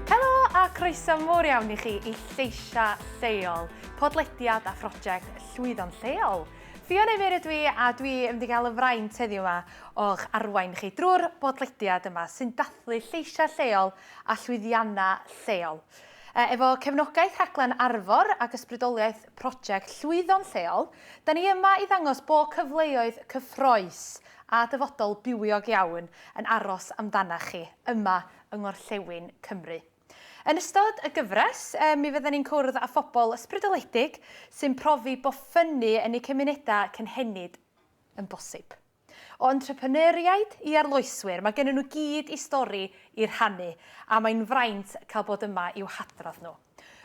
Helo a croeso mor iawn i chi i Lleisia Lleol, podlediad a phrosiect Llwyddo'n Lleol. Ffion Emyr ydw i a dwi yn mynd i gael y fraint heddiw yma o'ch arwain chi drwy'r bodlediad yma sy'n dathlu lleisia lleol a llwyddianna lleol. Efo cefnogaeth rhaglen Arfor ac ysbrydoliaeth prosiect Llwyddo'n Lleol, Da ni yma i ddangos bo cyfleoedd cyffroes a dyfodol bywiog iawn yn aros amdanach chi yma yng Ngorllewin Cymru. Yn ystod y gyfres, mi fydden ni'n cwrdd â phobl ysbrydoledig sy'n profi bo ffynnu yn eu cymunedau cynhenid yn bosib. O entrepreneuriaid i arloeswyr, mae gennyn nhw gyd i stori i rhannu, a mae'n fraint cael bod yma i'w hadrodd nhw.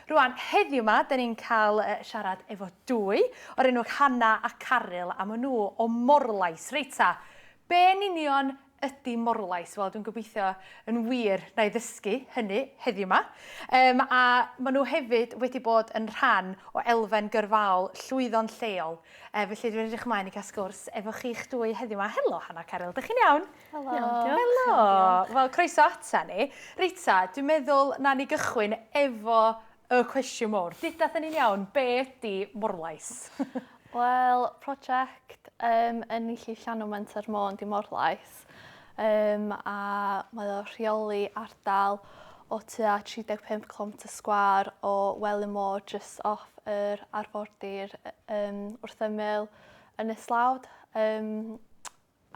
Rwan, heddiw yma, dyn ni'n cael siarad efo dwy, o'r enw Hanna a Caryl, a maen nhw o Morlais. Reit ta, be yn union ydy Morlais? Wel, dwi'n gobeithio yn wir na i ddysgu hynny heddiw yma. Um, a maen nhw hefyd wedi bod yn rhan o elfen gyrfaol llwyddo'n lleol, Yy felly dwi'n edrych ymlaen i cael sgwrs efo chi'ch dwy heddiw 'ma. Helo Hannah a Caryl, dych chi'n iawn? Helo. Iawn diolch. Helo. Iawn diolch. Wel croeso ata ni. Rita, dwi'n meddwl nawn ni gychwyn efo y cwestiwn mowr. Deuda 'tha ni'n iawn, be' ydi Morlais? Wel, project yym ynni Llif Llanw Menter Môn 'di Morlais. Cymraeg. Yym a mae o rheoli ardal o tua 35 cilometr sgwâr o Welin Môr jyst off yr arfordir yym wrth ymyl Ynys Lawd yym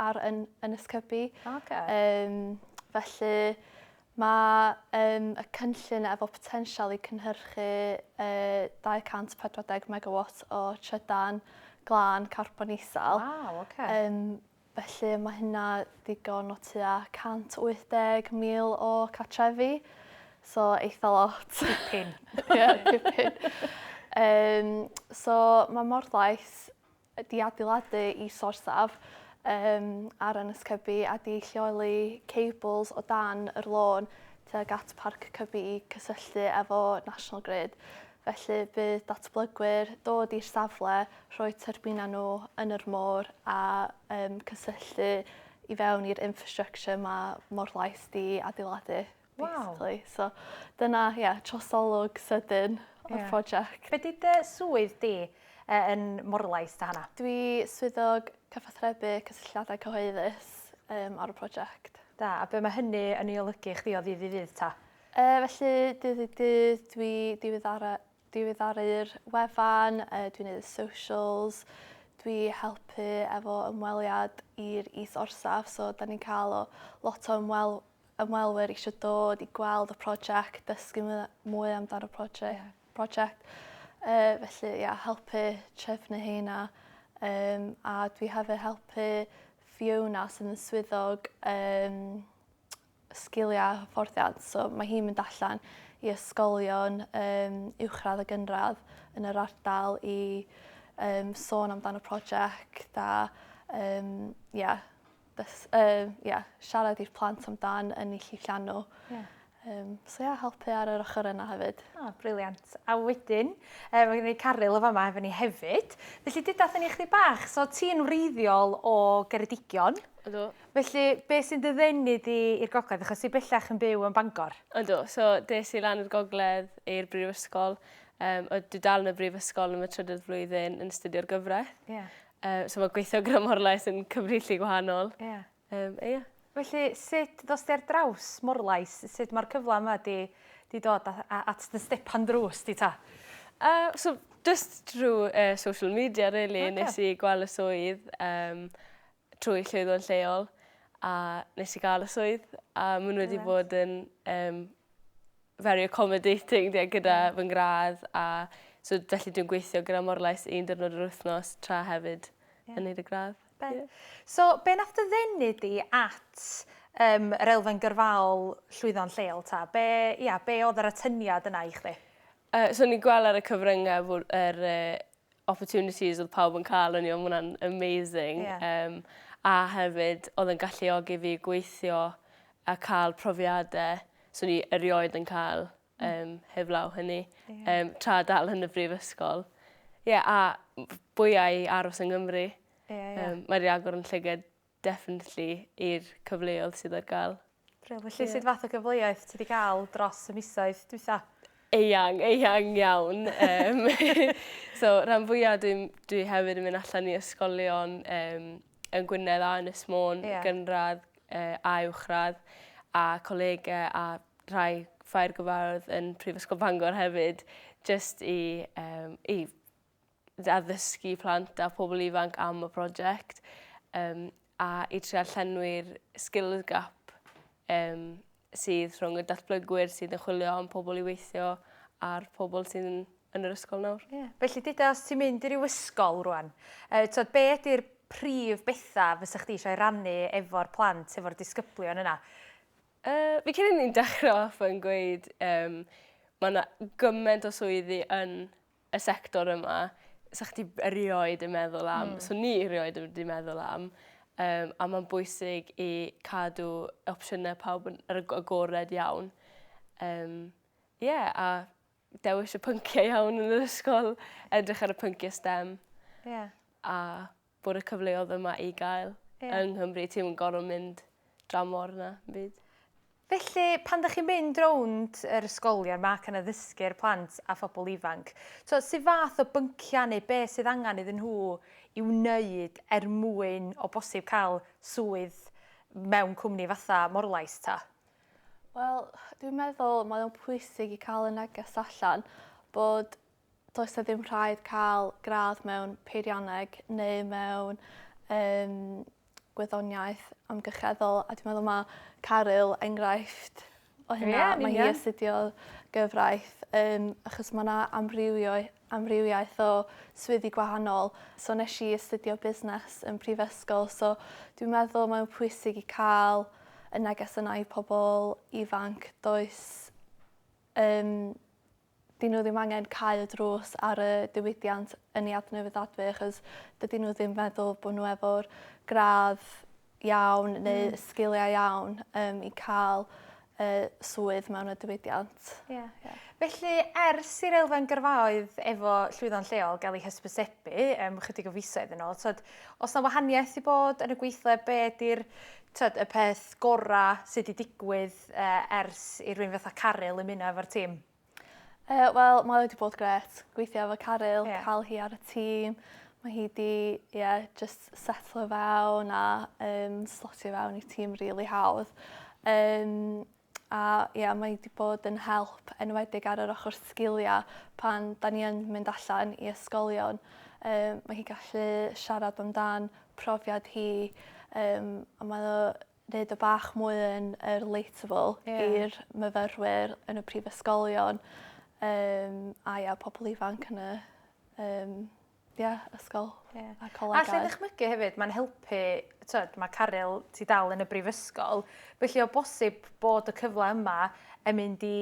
ar yn Ynys Cybi. Oce. Yym felly mae yym y cynllun efo potensial i cynhyrchu yy 240 megawat o trydan glân carbon isel. Waw oce. Yym Felly mae hynna ddigon o tua 180,000 o cartrefi, so eitha lot. Dipyn. Ie, dipyn. Um, so mae Morlais wedi adeiladu i sorsaf um, ar Ynys Cybi a di lleoli cables o dan yr lôn tuag at Parc Cybi i cysylltu efo National Grid. Felly bydd datblygwyr dod i'r safle, rhoi tyrbinau nhw yn yr môr a um, cysylltu i fewn i'r infrastructure mae Morlais di adeiladu. Wow. So dyna, ie, yeah, trosolwg sydyn o'r yeah. prosiect. Be di dy swydd di? yn Morlais ta hana? Dwi swyddog cyfathrebu cysylltiadau cyhoeddus um, ar y prosiect. Da, a be mae hynny yn ei olygu chdi o ddydd i ddydd ta? E, felly, dydd i dydd, dwi diweddara, diweddaru'r wefan, e, dwi'n neud y socials, dwi helpu efo ymweliad i'r is orsaf, so da ni'n cael o, lot o ymwel, ymwelwyr eisiau dod i gweld y prosiect, dysgu mwy amdano prosiect. Yeah. prosiect. E, felly, ia, helpu trefnu heina. Um, a dwi hefyd helpu Fiona sydd yn swyddog um, sgiliau a hyfforddiant. So mae hi'n mynd allan i ysgolion um, uwchradd a gynradd yn yr ardal i um, sôn amdano prosiect a um, yeah, dys, uh, yeah, siarad i'r plant amdan yn ei llillian nhw. Yeah. Um, so ia, yeah, helpu ar yr ochr yna hefyd. O, oh, briliant. A wedyn, um, mae gen i Caryl o fama efo ni hefyd. Felly, dydath ni chdi bach, so ti'n wreiddiol o Geredigion. Ydw. Felly, beth sy'n dy ddenu di i'r gogledd, achos ti bellach yn byw yn Bangor? Yndw, so des i lan i'r gogledd i'r brifysgol, um, o dwi dal yn y brifysgol yn fy trydydd flwyddyn yn studio'r gyfraith. Yeah. Um, so mae gweithio gyda Morlais yn cyfrifllu gwahanol. Yeah. Um, e, yeah. Felly, sut ddos ti ar draws Morlais? Sut mae'r cyfle yma di, di dod at dy stepan drws di ta? Uh, so, just drwy uh, social media, really, okay. nes i gweld y swydd. Um, trwy llwyddo yn lleol a nes i ga'l y swydd a ma' n'w wedi bod yn yym very accommodating ie gyda fy ngradd a so felly dwi'n gweithio gyda Morlais un diwrnod yr wythnos tra hefyd yn neud y gradd. Be'... Ie. So be' nath dy ddenu di at yym yr elfen gyrfaol llwyddo'n lleol 'ta? Be' ia be' odd yr atyniad yna i chdi? Yy so o'n i'n gwel' ar y cyfrynge fo' yr yy opportunities oedd pawb yn cael o'n i, ond hwnna'n amazing. Yeah. Um, a hefyd, oedd yn galluogi fi gweithio a cael profiadau so ni erioed yn cael um, heblaw hynny. Yeah. Um, tra dal yn y brifysgol. Ie, yeah, a bwyau aros yng Nghymru. Yeah, yeah. Um, Mae'r agor yn llyged definitely i'r cyfleodd sydd ar ga'l. Brill. Felly sud fath o gyfleoedd ti 'di ga'l dros y misoedd dwitha? Eang eang iawn yym so ran fwya dwi'n dwi hefyd yn myn' allan i ysgolion yym yn Gwynedd a Ynys Môn... Ie. ...gynradd yy a uwchradd a colege a rhai ffair gyfarwydd yn Prifysgol Bangor hefyd jyst i yym i addysgu plant a phobl ifanc am y prosiect um, a i trio llenwi'r skills gap um, sydd rhwng y datblygwyr sydd yn chwilio am pobl i weithio a'r pobl sydd yn, yn yr ysgol nawr. Yeah. Felly, dyda, os ti'n mynd i ryw ysgol rwan, uh, tod, be ydy'r prif bethau fysa chdi eisiau rannu efo'r plant, efo'r disgyblion yna? Uh, fi cyn ni'n dechrau off yn gweud, um, mae yna gymaint o swyddi yn y sector yma, sa chdi erioed yn meddwl am, mm. so ni erioed wedi meddwl am, um, a mae'n bwysig i cadw opsiynau pawb yn yr agored iawn. Um, yeah, a dewis y pynciau iawn yn yr ysgol, edrych ar y pynciau STEM. Yeah. A bod y cyfleodd yma i gael. Ie. Yng Nghymru ti'm yn gor'o' mynd dramor na 'm byd. Felly pan 'dach chi'n mynd rownd yr ysgolion 'ma ac yn addysgu'r plant a phobol ifanc t'o' su' fath o byncia' neu be' sydd angan iddyn nhw i wneud er mwyn o bosib ca'l swydd mewn cwmni fatha Morlais 'ta? Wel dwi'n meddwl mae o'n pwysig i ca'l y neges allan bod Does 'na ddim rhaid cael gradd mewn peirianneg neu mewn um, gwyddoniaeth amgylcheddol a dwi'n meddwl mae Caryl enghraifft o hynna. Yeah, mae hi astudio gyfraith um, achos mae yna amrywiaeth o swyddi gwahanol. So nes i astudio busnes yn prifysgol, so dwi'n meddwl mae'n pwysig i cael y neges yna i pobl ifanc. Does um, 'dyn n'w ddim angen cau y drws ar y diwydiant ynni adnewyddadwy achos dydyn n'w ddim meddwl bo' n'w efo'r gradd iawn neu y sgilia iawn yym i ca'l y swydd mewn y diwydiant. Ie. Ie. Felly ers i'r elfen gyrfaoedd efo llwyddo'n lleol ga'l 'i hysbysebu yym chydig o fisoedd yn ôl t'od o's 'na wahaniaeth 'di bod yn y gweithle be' 'di'r t'od y peth gora' sy' 'di digwydd ers i rywun fatha Caryl ymuno efo'r tîm? Yy wel mae o 'di bod grêt gweithio efo Caryl... Ie. ...ca'l hi ar y tîm ma' hi 'di ie jyst setlo fewn a yym slotio fewn i tîm rili hawdd yym a ie mae 'di bod yn help enwedig ar yr ochor sgilia pan 'dan ni yn mynd allan i ysgolion yym ma' hi gallu siarad amdan profiad hi yym a mae o neud o bach mwy yn yy relatable... Ie. ...i'r myfyrwyr yn y prifysgolion yym a ia pobol ifanc yn y yym ia ysgol... Ie. ...a'r colegau. Allai ddychmygu hefyd ma'n helpu t'od ma' Caryl ti dal yn y brifysgol felly o bosib bod y cyfle yma yn mynd i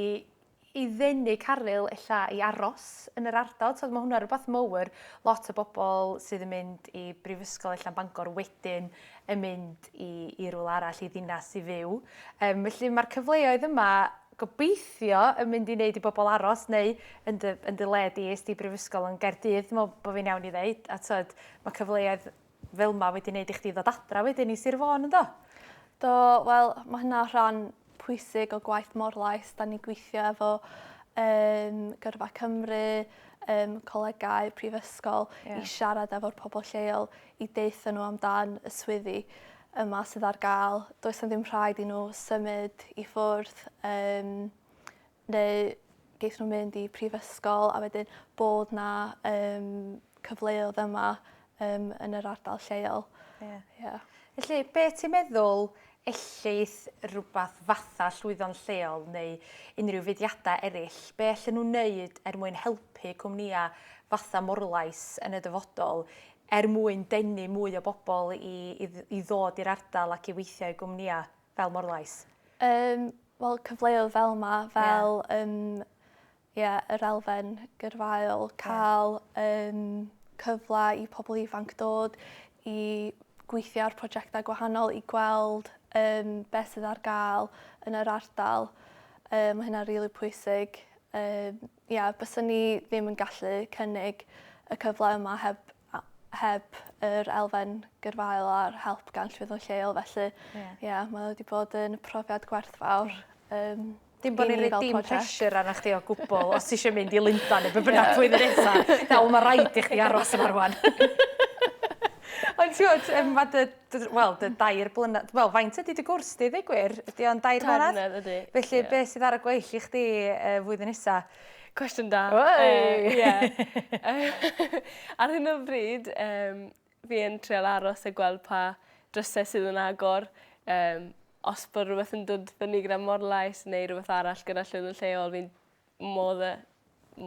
i ddenu caryl ella i aros yn yr ardal t'od ma' hwnna rwbath mowr lot o bobol sydd yn mynd i brifysgol ella yn Bangor wedyn yn mynd i i rywle arall i ddinas i fyw yym felly ma'r cyfleoedd yma gobeithio yn mynd i neud i bobol aros neu yn dy yn dy le di es di i brifysgol yn Gaerdydd dwi me'wl bo fi'n iawn i ddeud a t'od ma' cyfleoedd Fel ma wedi neud i chdi ddod adra wedyn i Sir Fôn yndo? Do wel ma' hynna rhan pwysig o gwaith Morlais 'dan ni gwithio efo yym Gyrfa Cymru yym colegau prifysgol i siarad efo'r pobol lleol i deutho n'w amdan y swyddi yma sydd ar ga'l does 'na ddim rhaid i n'w symud i ffwrdd yym neu geith nhw mynd i prifysgol a wedyn bod 'na yym cyfleodd yma yym yn yr ardal lleol. Ie. Ie. Felly be' ti'n meddwl ellith rhywbeth fatha llwyddo'n lleol neu unrhyw fudiadau eraill, be' allan nhw wneud er mwyn helpu cwmnïa fatha Morlais yn y dyfodol er mwyn denu mwy o bobl i i ddod i'r ardal ac i weithio i gwmnïa fel Morlais? Yym Wel cyfleodd fel 'ma fel yym ie yr elfen gyrfaol ca'l yym cyfla i pobol ifanc dod i gweithio ar projecta gwahanol i gweld yym be' sydd ar ga'l yn yr ardal yy ma' hynna rili pwysig yy Ie, byswn i ddim yn gallu cynnig y cyfle yma heb a- heb yr elfen gyrfaol a'r help gan Llwyddon Lleol felly Ie. ie mae o wedi bod yn profiad gwerthfawr yym Dim bo' ni'n roi dim pressure arna chdi o gwbwl os ti isio mynd i Lundan neu be' bynnag flwyddyn nesa. Nawr ma' raid i chdi aros yma rŵan. Ond t'wod yym ma' dy Wel, dy dair blynedd... Wel, faint ydy dy gwrs di, ddeu gwir? Ydy o'n dair blynedd? Dair blynedd, ydy. Felly, yeah. beth sydd ar y gweill i chdi uh, flwyddyn nesa? Cwestiwn da. Oi! Uh, yeah. ar hyn o bryd, um, fi yn treol aros a gweld pa drysau sydd yn agor. Um, os bod rhywbeth yn dod fyny gyda morlais neu rhywbeth arall gyda llwydd yn lleol, fi'n modd yy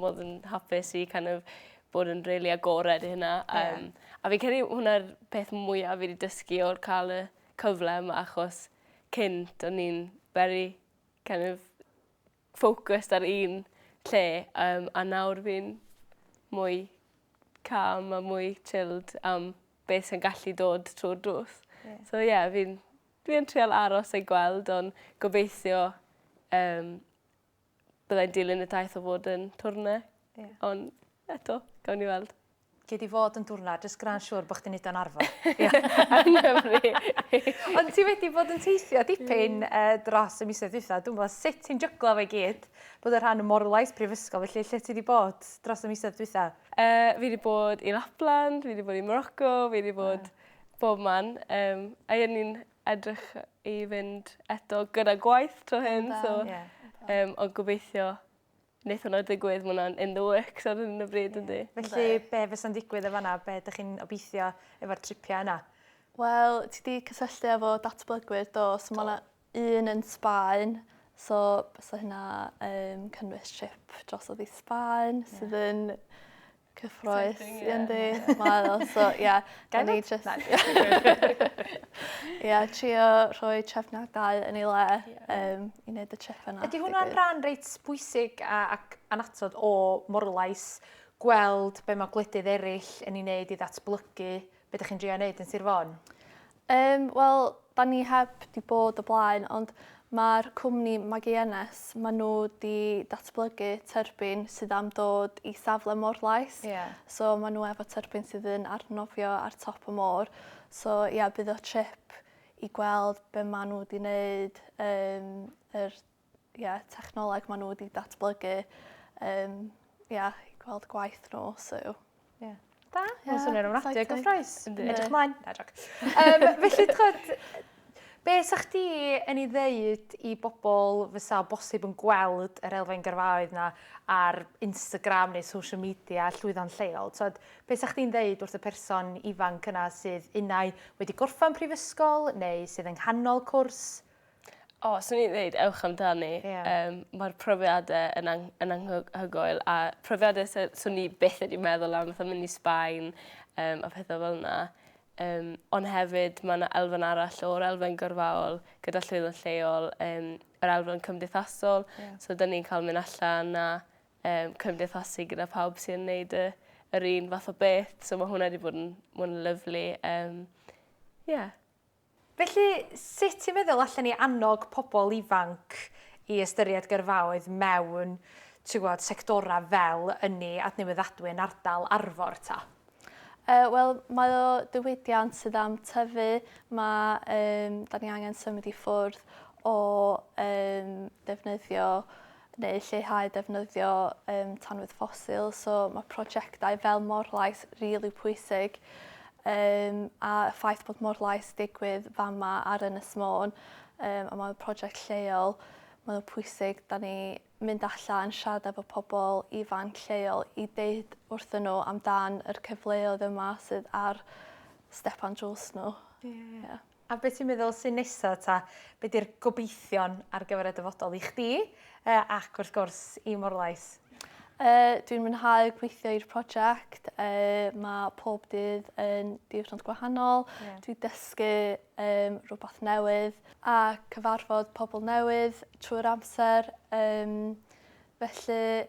modd yn hapus i kin' of bod yn rili agored i hynna a yym... Ie. ...a fi'n credu hwnna'r peth mwya fi 'di dysgu o'r ca'l y cyfle yma achos cynt o'n i'n very kin' of focused ar un lle yym a nawr fi'n mwy calm a mwy chilled am be' sy'n gallu dod trwy'r drws. Ie. So ie fi'n dwi yn trial aros a gweld on' gobeithio yym Byddai'n dilyn y daith o fod yn twrne. Yeah. Ond eto, gawn ni weld. Gei di fod yn dwrna, jyst gra'n siwr bod chdi'n neud o'n arfer. Ond ti wedi bod yn teithio dipyn mm. uh, dros y misoedd dwytha. Dwi'n meddwl sut ti'n jyglo fe gyd bod y rhan o morlais prifysgol, felly lle ti wedi bod dros y misoedd dwytha? Uh, fi wedi bod i Lapland, fi wedi bod i Morocco, fi wedi bod... Yeah bob man. Um, a o'n i'n edrych i fynd eto gyda gwaith 'to hŷn so... O da. Ie. ...yym ond gobeithio neith hwnna digwydd ma' wnna'n in the works ar hyn o bryd yndi? Felly be' fysa'n digwydd yn fan 'na be' 'dych chi'n obeithio efo'r tripia yna? Wel ti 'di cysylltu efo datblygwyr do so ma' 'na un yn Sbaen so bysa hynna yn cynnwys trip drosodd i Sbaen sydd yn Cyffroes. Yndi mae o so ie. Ga i neud jyst... Na. Ie trio rhoi trefniadau yn ei le yym i neud y trip yna. Ydi hwnna'n ran reit bwysig a ac annatod o Morlais gweld be' ma' gwledydd eryll yn 'i neud i ddatblygu Be dych chi'n drio neud yn Sir Fôn? Yym, wel, da ni heb 'di bod o blaen, ond ma'r cwmni Magiennes, ma' nhw 'di datblygu tyrbin sydd am dod i safle Morlais. Ie. So ma' nhw efo tyrbin sydd yn arnofio ar top y môr. So ia, bydd o trip i gweld be' ma' nhw 'di neud, yym yr ie, technoleg ma' n'w wedi datblygu yym ia i gweld gwaith n'w so ie. Da. Mae'n swnio'n ofnadwy o gyffrous. Yndi. Edrych mlaen. Na jôc. Yym felly t'chod be' 'sach chdi yn 'i ddeud i bobol fysa o bosib yn gweld yr elfen gyrfaoedd 'na ar Instagram neu social media llwyddo'n lleol t'od be' 'sach chdi'n ddeud wrth y person ifanc yna sydd unai wedi gorffan prifysgol neu sydd yng nghanol cwrs? O swn i'n ddeud ewch amdani. Ie. Yym ma'r profiade yn ang- yn anghy- hygoel a profiade sy- swn i byth wedi meddwl am fatha mynd i Sbaen yym a phethe fel 'na yym on' hefyd ma' 'na elfen arall o'r elfen gyrfaol gyda llwyddant lleol yym yr elfen cymdeithasol. Ie. So 'dyn ni'n ca'l myn' allan a yym cymdeithasu gyda pawb sy yn neud y yr un fath o beth so ma' hwnna 'di bod yn ma'n lyfli yym ie. Felly, sut ti'n meddwl allen ni annog pobl ifanc i ystyried gyrfaoedd mewn, ti'n gwybod, sectorau fel ynni, adnewyddadwy yn ardal Arfor, ta? Yy, wel, mae o ddiwydiant sydd am tyfu. Mae, yym, 'da ni angen symud i ffwrdd o, yym, defnyddio neu lleihau defnyddio um, tanwydd ffosil, so mae prosiectau fel Morlais rili really pwysig um, a y ffaith bod Morlais digwydd fama ar Ynys Môn um, a mae'n prosiect lleol, mae'n pwysig da ni mynd allan, siarad efo pobl ifanc lleol i ddeud wrthyn nhw amdan yr cyfleoedd yma sydd ar stepan drws nhw. Yeah. Yeah. A be ti'n meddwl sy'n nesa ta? Be di'r gobeithion ar gyfer y dyfodol i chdi uh, ac wrth gwrs i Morlais? Uh, dwi'n mwynhau gweithio i'r prosiect. Uh, mae pob dydd yn diwrnod gwahanol. Yeah. Dwi'n dysgu um, rhywbeth newydd a cyfarfod pobl newydd trwy'r amser. Um, felly,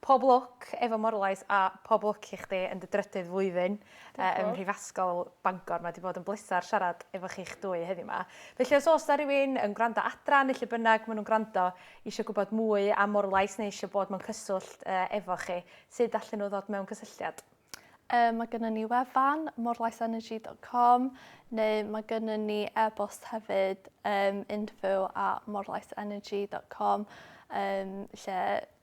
Pob lwc efo Morlais a pob lwc i chdi yn dy drydydd flwyddyn ym Mhrifasgol Bangor. Mae 'di bod yn bleser siarad efo chi'ch dwy heddiw 'ma. Felly os oes 'na rywun yn gwrando adra neu lle bynnag ma' nhw'n gwrando isio gwybod mwy am Morlais neu isio bod mewn cyswllt efo chi, sud allen nhw ddod mewn cysylltiad? Yym mae gynnon ni wefan morlaisenergy dot com neu mae gynnon ni e-bost hefyd yym info at morlaisenergy dot com yym lle